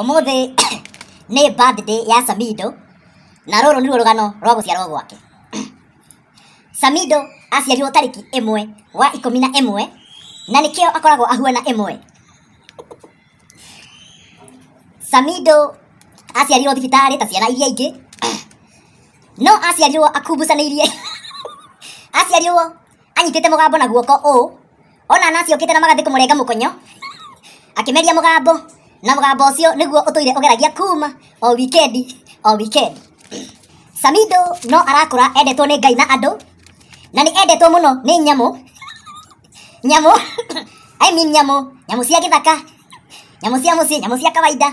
Ũmũthĩ nĩ birthday ya Samido na rũrũ nĩruo rũgano rwa gũciarwo gwake. Samido aciarirwo tarĩki ĩmwe wa ikũmi na ĩmwe na nĩkĩo akoragwo ahuana ĩmwe. Samido aciarirwo thibitarĩ ta ciana iria ingĩ no aciarirwo akumbucanĩirie aciarirwo anyitĩte mũgambo na guoko ũũ ona anasi okite na magathi kumurenga mukonyo akimeria mugambo na mugambo ucio niguo utuire ugeragia kuma o weekend o weekend Samido no arakura endetwo ni Ngai na andu na ni endetwo muno ni nyamu nyamu I mean nyamu nyamu cia githaka nyamu cia mucii nyamu cia kawaida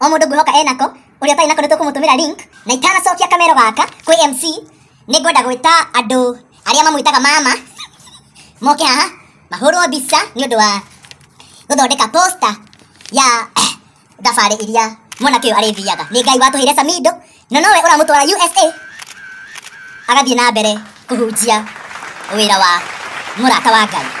o mũndũ ngwĩhoka enako ũrĩa ũtarĩ nako nĩ tũkũmũtũmĩra link na itanacokia kamero gaka kwĩ MC nĩ ngwenda gwĩta andũ arĩa mamwĩtaga mama moke haha mahũrwo mbica nĩ ũndũ wa gũthondeka poster ya thabarĩ iria mwanake ũyũ arĩthiaga nĩ ngai watũheire samido na nowe ũramũtwara usa agathiĩ na mbere kũhunjia wĩra wa mũrata wa ngai